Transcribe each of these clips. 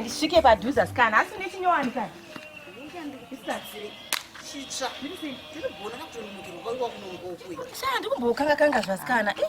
ndisvike padhuze asikana asi une chinyowani kani ndikumboukanga kanga zvasikana eh,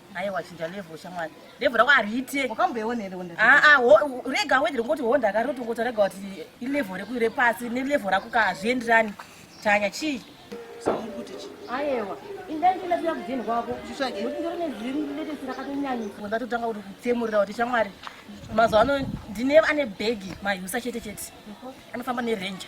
aiwa chinja level shamwari level rako hariite wakamboiona here honda aa ah, ah, rega hawedi ringoti honda akari rotongoti rega kuti ilevel reku repasi nelevel rako ka hazvienderani tanya chii aiwa indaindilaia kudini kwako nokuti ndiri neziletesi rakatonyanyisa ndatotanga kuti kutsemurira kuti shamwari mazuva ano ndine ane bhegi mahusa chete chete anofamba nerenja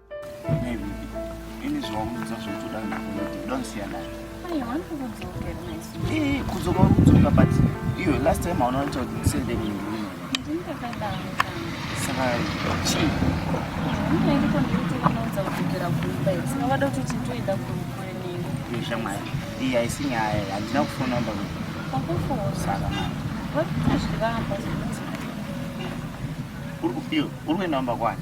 kudzoka kudzoka but iyo last time hauna kuti ndisende kundiwina saka chii shamwari iyi haisi nyaya handina kufona mba saka mari uri kuenda kumba kwani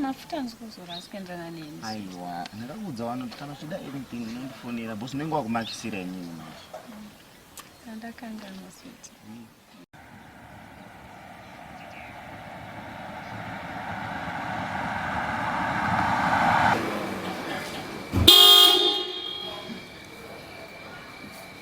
mafuta hanzi kuzora asi kuenderana neni aiwa ndakakuudza wano kuti kana uchida anything unondifonera bos unenge wakumakisira inini manje andakanganwa switi mm.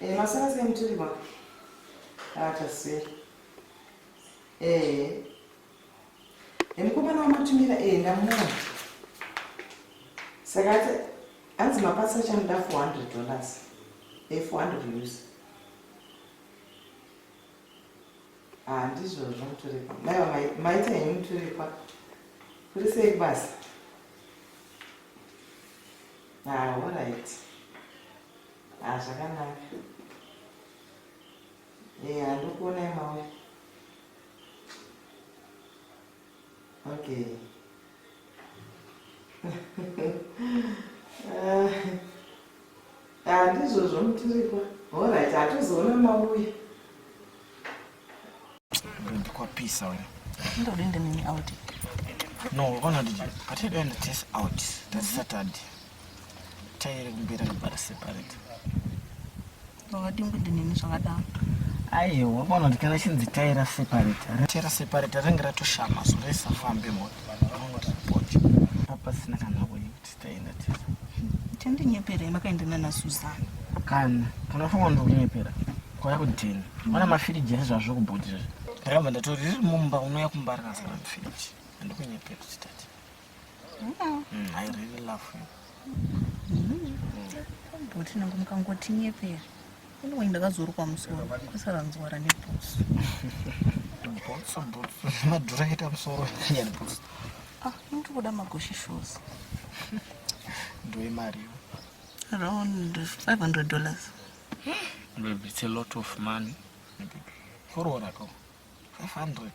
Eh, masara sei mutirima? Ah, taseri. Eh. Eh, mukomana wamatumira eh ndamuona. Saka ati hanzi mapatsa chanoda 400 dollars. Eh, 400 euros. Ah, ndizvozvo muturikwa. Maiwa mai- maita henyu muturikwa. Kuri sei kubasa? Ah, all right. Ah, zvakanaka. Eh, handikuona imawe. Okay. Ah, ah, ndizvozvo mutirikwa. All right, hatizoona mauya. Ndikwapisa wena. Ndodende nini out. No, ona ndije. Atidende test out. That's mhm. Saturday. Tayere kumbira kubara separate. Vakadimbu ndinini zvakadaro. Aiwa, bona kuti kana chinzi tayera separate. Tayera separate rinenge ratoshama so resafambe mota. Vanongoti pocho. Apa sina kana wait. Chandinyeperei makaenda nana Susan? Kana kana funga ndokunyepera kwaya kudheni wana mafiriji ese zvazvo kubhoti izvi ndakabva ndatori riri mumba unouya kumba rakazara mafiriji andikunyepera chitati mm, I really love you. Mm. Bhoti nangu mukangotinyepera Anyway, ndakazorukwa musoro kwasara nzwara nebhutsu bhutsu bhutsu madhura aita musoro akanyari bhutsu ah ndiri kuda magoshi shoes ndoimari around 500 dollars babe it's a lot of money koroora ko 500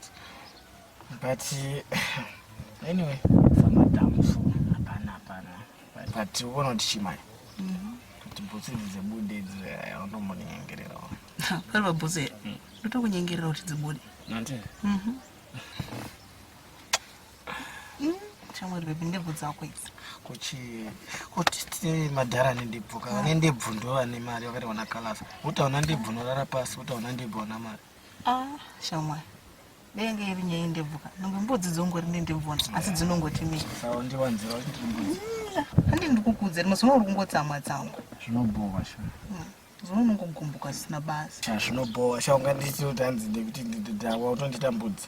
but uh, anyway samadhamu so hapana hapana but uona kuti chimai mhm. kuti bhutsu idzi dzebude idzi eh, unombonyengerera pari pabhutsu here mm. ndotokunyengerera kuti dzibude nati mhm. mm, chamwari bebi ndebvu dzako idzi kuchi kuti tine madhara ane ndebvu ka vane ndebvu ndo vane mari vakati wana kalasa utaona ndebvu unorara pasi utaona ndebvu wana mari Ah, shamwari denge iri nyaya yendebvuka nonge mbudzi dzongori nendebvona asi dzinongoti miandi ndikukudza rimwe zino uri kungotsamwa tsamwa zvinobhowa sha hmm, zino unongogumbuka zvisina basa zvinobhowa sha ungandiiti utanzi ndekuti ndawa utondiita mbudzi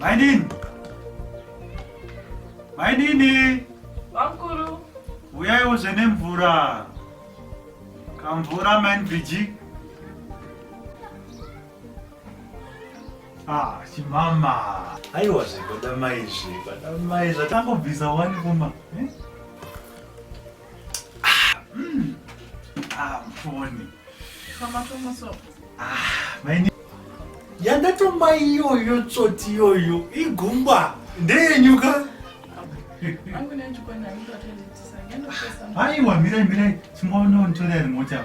Mainini. Mainini. Bamkuru. Uyai uze nemvura. Kamvura main Bridget. Ah, chimama. Aiwa zvekuda mai izvi, kuda mai zvatangobvisa wani kuma. Eh? Ah, mm. ah, mfoni. Kama tomoso. Ah, maini. Yandatoma iyoyo tsoti iyoyo igumba ndeyenyuka. Angu nenjukwa nani ndatenditisa. Aiwa mirai mirai, chimboona untorera mota.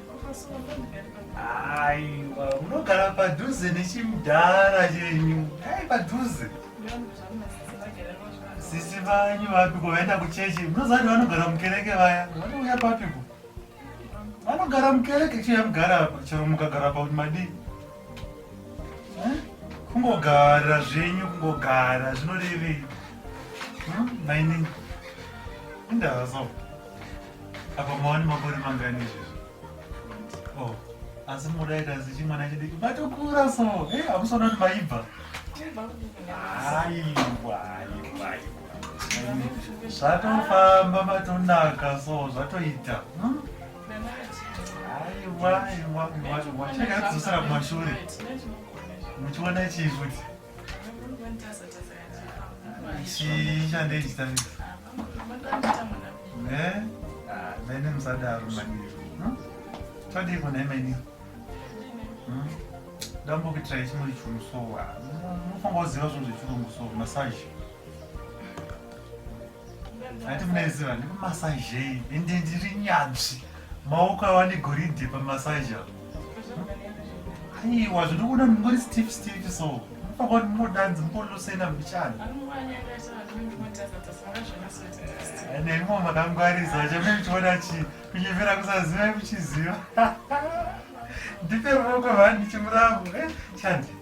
Aiwa, unogara padhuze nechimdhara chenyu. Ai padhuze. Sisi vanyu vapiko vaenda kuchechi. Munoziva kuti vanogara mukereke vaya. Vanouya papiko? Vanogara mukereke chiya mugara apa. Chero mukagara apa kuti madii? Eh? Kungogara zvenyu kungogara zvinorevei? Hmm? Mainini. Indazo. Apa mawani makore mangani izvezvo? Oh, asi moda ikanzi chimwana chidiki matokura so. Hey, eh, amusaona kuti maibva. Aiwa, aiwa, aiwa. Zvatofamba matonaka so zvatoita. Hmm? Aiwa, aiwa, aiwa. Chakadzosera kumashure. Muchiona chii futi? Mene msadaro maniri. Tadii kona imeni. Dambo kuitira chimwe chunhu so. Unofanira kuziva zvinhu zvechirungu so massage. Ati muneziva ndikumasazhei ende ndiri nyanzvi maoko ava negoridhe pamasaji avo aiwa zvinokuona mungori steve steve so mupakati munodanzi mukolosena muchani neimwe makangwarisa chamai muchiona chi kunyevera kusaziva muchiziva ndipe ruoko vani ndichimuramu eh, chandi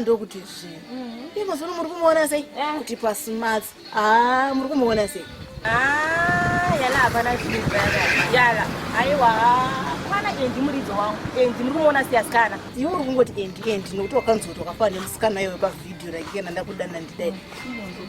ndokuti zvi i mazono muri kumuona sei eh. kuti pasmats a ah, muri kumuona sei ah, yala hapana yala aiwa mwana endi muridzo wangu endi muri kumuona sei asikana iwe uri kungoti endi endi nokuti wakanzoti wakafanana nemusikana iyoyo pavhidhiyo raikena ndakudana ndidai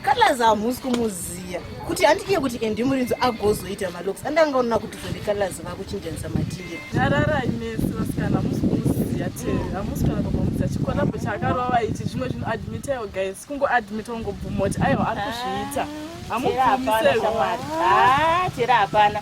kalaz hamusi kumuziya kuti handikiye kuti endi murinzi agozoita maloks andanga onona kuti zvende kalaz vakuchinjanisa matire nyararai mese vasikana hamusi kumuziya te hamusi kana kumuziya chikolabo chakarova ichi zvimwe zvinhu admitayo guys kungoadmita ungobvuma kuti aiwa ari kuzviita ah, hamugumiseoatera hapana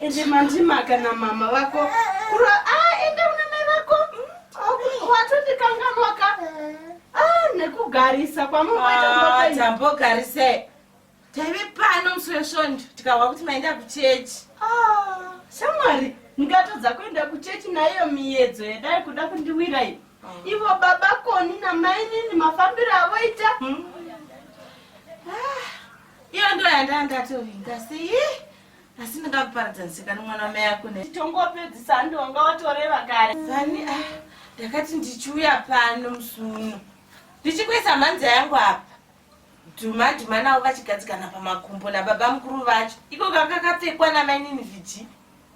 Ende mandima kana mama vako kura ah ende una mai vako hmm, watondikanganwa ka ah nekugarisa kwamunoita ah, tambogarisei taive pano musi wesvondo tikahwa kuti maenda kuchechi ah, shamwari ndikatodza kuenda kuchechi naiyo miyedzo yadai kuda kundiwirai ah. ivo baba koni namainini mafambiro avoita hmm. ah, iyo ndo yandandatovinga sei asi ndingakuparadza ndisikani mwana wamai ako ne tongopedzisa handi wanga watoreva kare vani ah, ndakati ndichiuya pano musuno ndichikuisa mhanza yangu apa dhuma dhuma navo vachigadzikana pamakumbo nababa mukuru vacho iko kakakapfekwa namainini viji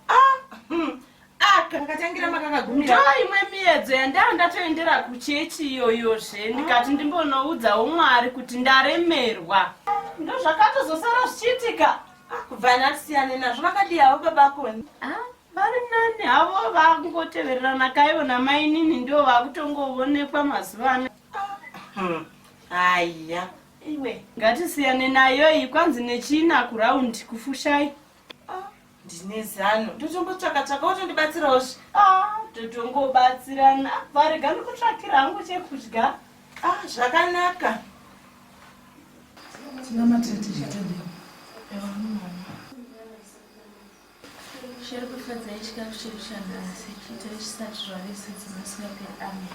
ah, hmm. ndo imwe miedzo yandaa ndatoendera kuchechi iyoyo zve ndikati ndimbonoudzawo mwari kuti ndaremerwa ndo zvakatozosara zvichiitika ah, kubva nasiyane nazvo vakadiyawo babakoni ah, vari nani havo vakungotevererana kaivo namainini ndo vakutongoonekwa mazuva ano hmm, haiya iwe ngatisiyane nayoyi kwanzi nechina kuraundi kufushai ndine zano ndotombotsvaka tsvaka wotondibatsirawo zve ah, totongobatsirana varega ndikutsvakira hangu chekudya ah, zvakanaka tinamatira tizvitende zviri kufadza ichikafu chiri chanhasi chiitire chisati zvave sedzimasiya peamen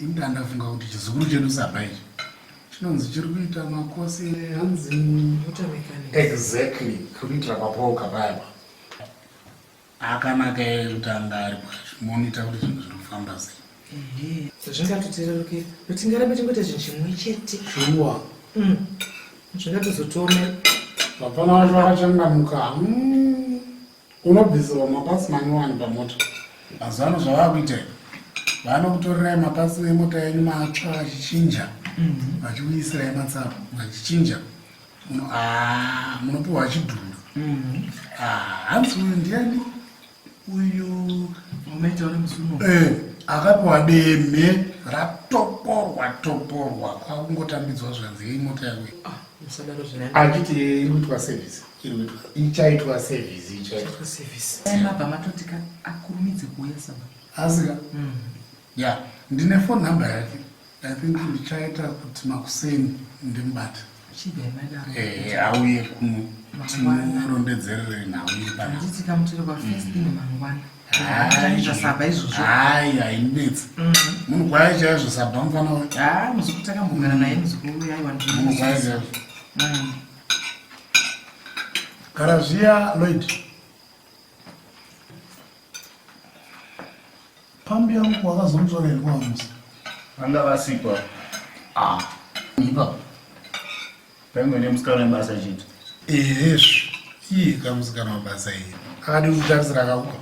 Ini ndandafunga kuti chizukuru chedu saba ichi chinonzi chiri kuita makosi hanzi water mechanic. Exactly, kuri kuitira papoka payapa. Akanaka kutanga ari kwacho, moita kuti zvinhu zviri kufamba sei. Zvingatotirerukira, but tingarambe tingoita zvinhu chimwe chete. Shuwa. Mm. Zvingatozotiomera. Vapfana vacho vakachangamuka. Mm. Unobvisirwa mapatsi manyowani pamota. Mazuva ano zvavakuita ivo vanokutorerai mapatsi nemota yenyu matsva vachichinja mhm. vachikuisirai matsava vachichinja ah, munopiwa chidhumba mhm. ah, hanzi uyu ndiani uyu eh, akapiwa deme ratoporwa toporwa kwakungotambidzwa zvanzi yei mota yawe ah, achiti iri kuitwa sevisi ichaitwa sevhisi ichaitwa sevhisi mabva matoti ka akurumidze kuuya saba asika hmm. ya ndine fon number yake i think ndichaita kuti makuseni ndimbate eh, auye kuno timurondedzerere nhau iri panaaiaiaisabamfana munogwaya chaizvo Gara zviya Lloyd. Pambi yangu wakazomutsvaka here kwamusa? Vanga vasipo. Ah, ipapo. Paimwe nemusikana webasa chete. Ehesvi, iye kamusikana webasa iye. Akadi kutarisira akakupa.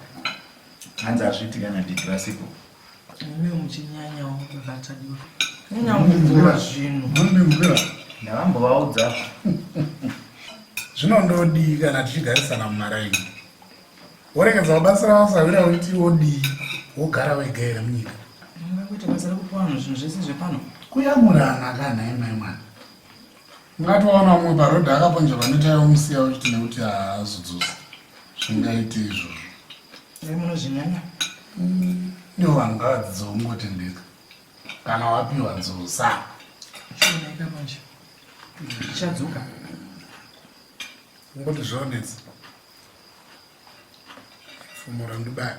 Hanzi hazviti kana didi vasipo. Mimi muchinyanya wakubata duro. Nyanya wakubvura zvinhu. Mundimvura. Ndavambovaudza. Zvinondodii kana tichigarisana mumaraini. Woregedza kubatsira vasahwira woti wodii wogara wega here munyika. Ndingakuita basa rekupa vanhu zvinhu zvese zvepano. Kuyamurana kana imai mwana. ungatoona umwe parodhi akaponja vanoitaiwo musiya uchiti nekuti haazodzosi zvingaiti izvozvo munozvinyanya mm, ndiwo vanhu ngavadzidzo ungotendeka kana wapiwa dzosa zvinoita manje zvichadzoka ungoti zvonetsa fumura ndibaya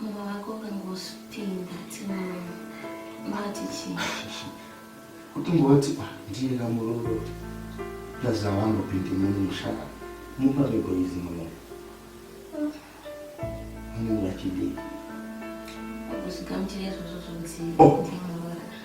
Mumwe wako ungangosvipinda tinoona mati chii kuti ngoti ah, ndiye kamuroro ndazavangopindi muni mushaka mumba megoizi muno munenge vachidii kuzigamuchira izvozvo zvonzi oh.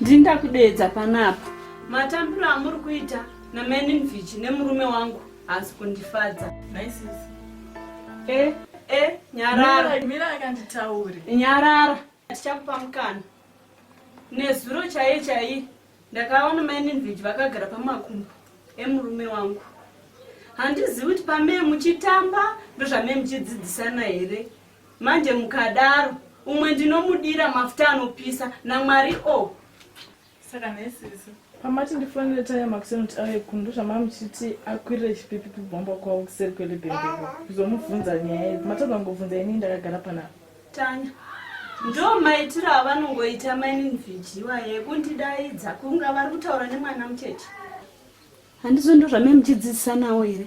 ndini ndakudeedza panapa matambiro amuri kuita namaninvichi nemurume wangu haasi kundifadza e e nyarara nyarara tichakupa mukana nezuro chaiye chaiye ndakaona maininvichi vakagara pamakumbo emurume wangu handizivi kuti pamee muchitamba ndozvamee muchidzidzisana here Manje mukadaro umwe ndinomudira mafuta anopisa namwari o oh. saka nesisi pamati ndifonere taya makuseni kuti auye kuno ndozvamaa muchiti akwirire chipipi pibhomba kwavo kuseri kwelebhembeko kuzomubvunza nyaya idzi matadza ngobvunza ini ndakagara panapa tanya ndo maitiro avanongoita maininivhijiwa yekundidaidza kunga vari kutaura nemwana mucheche handizo ndo zvamai muchidzidzisa nawo here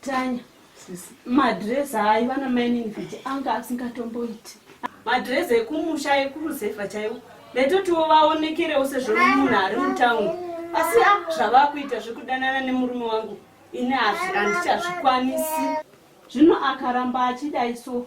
Tanya, madress hayi vana mining kuti anga asingatomboiti. Madress ekumusha ekuruzevha chaiwo. Ndaitotiwo vaonekerewo sezvo munhu ari mutown. Asi a ah, zvavakuita zvekudanana nemurume wangu ini hazvi handichazvikwanisi. Zvino akaramba achidai so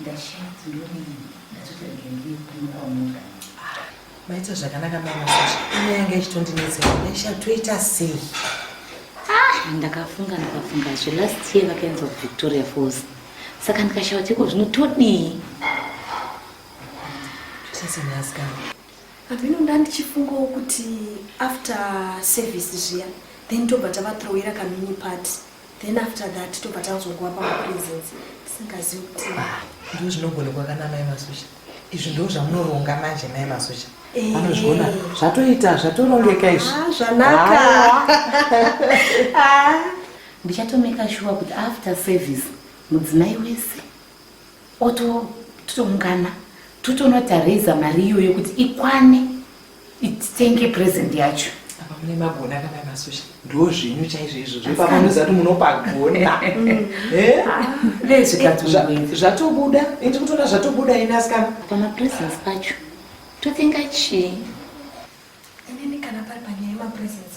Ndashaut ndoni ndatotorege ndiye kuno kwamuka. Maita zvakanaka mama Sasha. Ine yanga ichitondinetsera. Ndasha toita sei? Ah, ndakafunga ndikafunga zve last year vakaenza kuVictoria Falls. Saka ndikashaut iko zvino todii? Sasa ndazikana. Amino ndandichifungawo kuti after service zviya then tobva tavathrower kamini party then after that tobva tanzongova pamapresence tisingazivi kuti ndo zvinogonekwa kana mai masocha izvi ndo zvamunoronga manje mai masocha eh. anozviona zvatoita zvatorongeka izvi ah, zvanaka ah. ndichatomeka shuwa kuti after service mudzimai wese ototoungana totonoti araiza mari iyoyo kuti ikwane It's thank you present yacho. Apa mune magona kana masocha. Ndo zvinyu chaizvo izvo. Zvepa munoziva kuti munopagona. Eh? Lezi katuwe. Zvatobuda. Indi kutona zvatobuda ina asikana. Apa ma presents pacho. To think achi. Ini kana pari panyaya ma presents.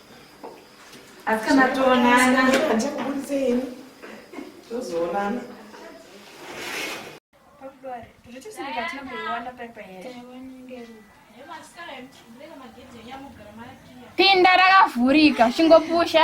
Asi kana toonana ndichakuburitseini tozoonana pinda rakavhurika chingopusha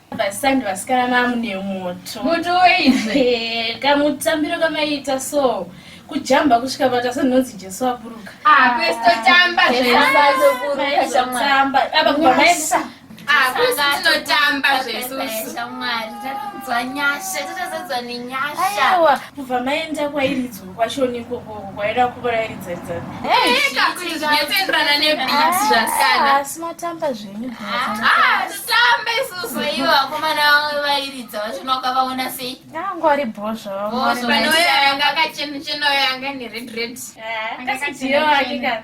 vasandi vasikana mamune moto moto weizve kamutambiro kamaiita so kujamba kusvika vata senonzi jesu aburuka akwestotamba zveazoburukatamba apa kubaisa tinotamba zvesushamwari tatadzwa nyasha tatazadzwa nenyasha kubva maenda kwairidzwa kwachoni ikoko kwaida kuvarairidza ridzaiakuizvinotenderana nebit zvasianaasi ah, matamba zvenyu ah, titambe isusu ivo vakomana vamwe vairidza vachona ukavaona sei angu ari bhozvavapanoyo yanga akachenachena oyo yanga neredred eh, akasiiyo akika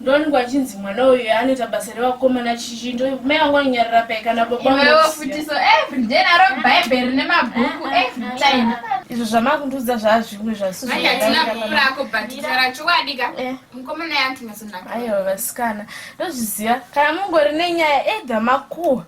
Ndongo achinzi mwana uyu anoita basa revakomana chichindo mai vangu vanonyarira pai kana babafutiso every day naro bhaibheri rine mabhuku every time izvo zvamakundiudza zvaazvimwe zvasizoako bhatitara chowadika eh. mukomana yantinasonaka aiwa vasikana ndozviziva kana mungori nenyaya edha makuwa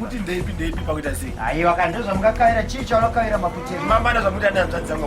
kuti ndeipi ndeipi pakuita sei aiwa kandozvamukakaira chii chaunakaira maputiri mamana zvamuti ananzvadzanga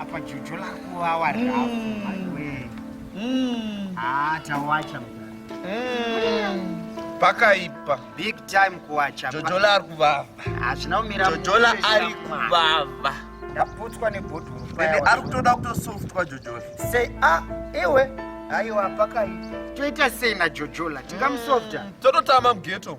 Apa jojo lakuwawa rafu. Mm. Mm. Ah, tawacha pakaipa big time kuwacha jojola ari kuvava hazvina ah, kumira jojola ari kuvava ndaputswa nebhodhoro ende ari kutoda kutosoftwa jojola sei a ah, iwe aiwa pakaipa toita sei najojola tingamusofta mm. tototama mugeto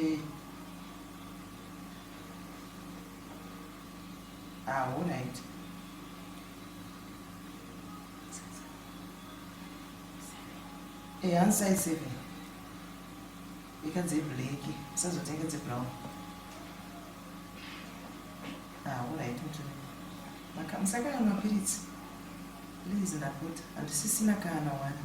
Eh. Ah, all right. Eh, hand size seven. Ika dze black, usazotenga dze brown. Ah, all right, mtu. Maka msaka na mapiritsi. Please ndakuta. Andisisina kana wani.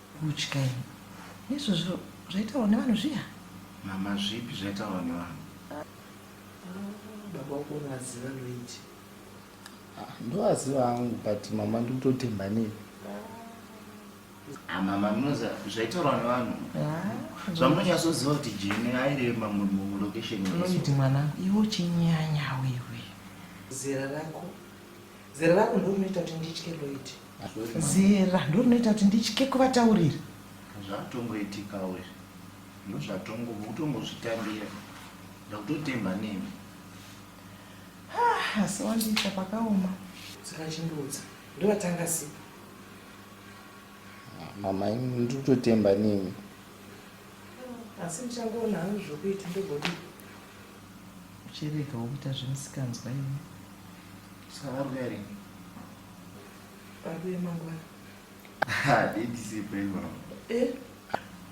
Kutya ini. Nezvozvo zvaitaurwa nevanhu zviya? Mama zvipi zvaitaurwa nevanhu? Baba wako unovaziva Luigi? Ndovaziva hangu but mama ndiri kutotemba nei? Ah, mama munoziva zvaitaurwa nevanhu? Zvamunonyatsoziva kuti Jane airema mulocation. Luigi mwana, iwe uchinyanya wewe. Zera rako Zera rako ndiro rinoita kuti nditye Lloyd. Zera ndiro rinoita kuti nditye kuvataurira. Zvatongoitikawo izvi. Ndozvatongo utongozvitambira. Ndakutotemba nemi. Ah, asi wandiita pakaoma. Saka chindiudza. Ndovatanga sipo. Mama, ndikutotemba nemi. Asi ndichangoona hangu zvokuita ndogodi. Uchiregawo kuita zvemisikanzwa iwe. Saka waruya rini? Paruya mangwana. Ha, didi sipe mama. Eh?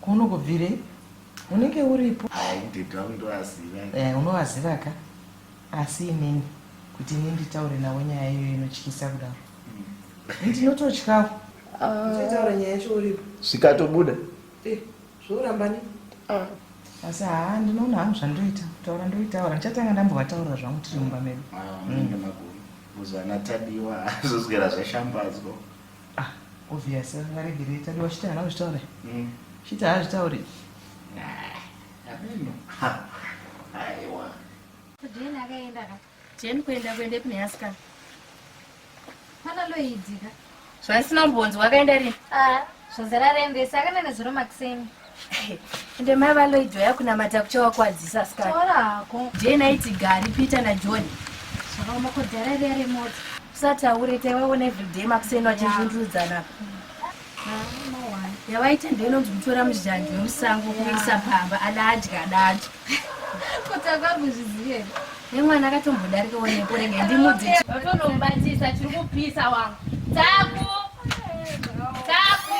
Kuno kubvire? Unenge uripo? Hai, didi wangu ndowaziva. Eh, unowaziva ka? Asi inini kuti ini nditaure nawo nyaya iyo inotyisa kudaro. Mm. Ndinototyawo. Ah. Uchitaura nyaya yacho uripo. Zvikatobuda. Eh. zvoramba ne ah. asi haa ndinoona hangu zvandoita kutaura ndoitaura ndichatanga ndambovataurira zvangu tiri mumba medu kuzanatadiwa ah, mm. zvozwera zvashambadzwa ah, obvious varegerei tadiwa chiti hana kuzvitaura mm. chiti haazvitauri ah, aiwa Jane kuenda kuendepi neasikana? Pana Loidika. Zvandisina kumbonzi wakaenda rini? Ah, zvazara rendesi akaenda nezuro makuseni. Ende mai vaLoid vaya kunamata kuchawakwadzisa asikana. Taura hako. Jane aiti gari Peter naJohn. Zvakaoma kodhara riya remota. Usataure taivaona everyday makuseni vachizvundurudzana apa. yavaita ndoinonzi kutora muzhanji wemusango kuisa pamba adadya adadya kuti akakuzvizive nemwana akatombodarika onepo rega ndimudzivatonomubatisa chiri kupisa wangu taku taku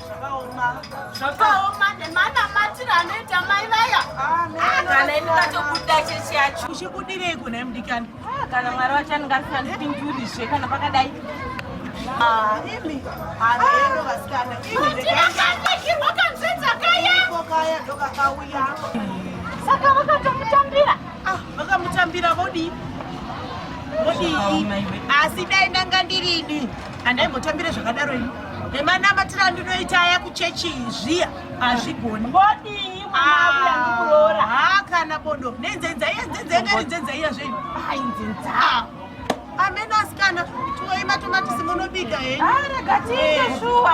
zvakaoma nemanamatiro anoita mai vaya ah, ah, kana ini ndatobuda chechi yacho uchibudirei kuna mdikani ah, kana mwari wacho aningasiandipinjurizve kana pakadai imi haeno vasikana iiakanekirwa kanzenza kayakaya ndokakauya saka vakatomutambira vakamutambira vodii vodii asi dai ndanga ndirini handaimbotambire zvakadaro ini nemanamatiro andinoita aya kuchechi zviya hazvigoni vodii mwanaakuroora ah, ha kana bodo nenzenza iya nzenza yanga iri nzenza iya zvenyu ai nzenza amena asikana tuwei matomatisi munobika henyu ah, rega tiite eh. shuwa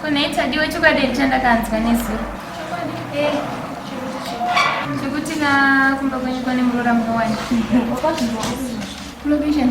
kuneitadiwe chokwadi chandakaanzwa nezuro eh, chekuti na kumba kwenyu kwane muroora munowana location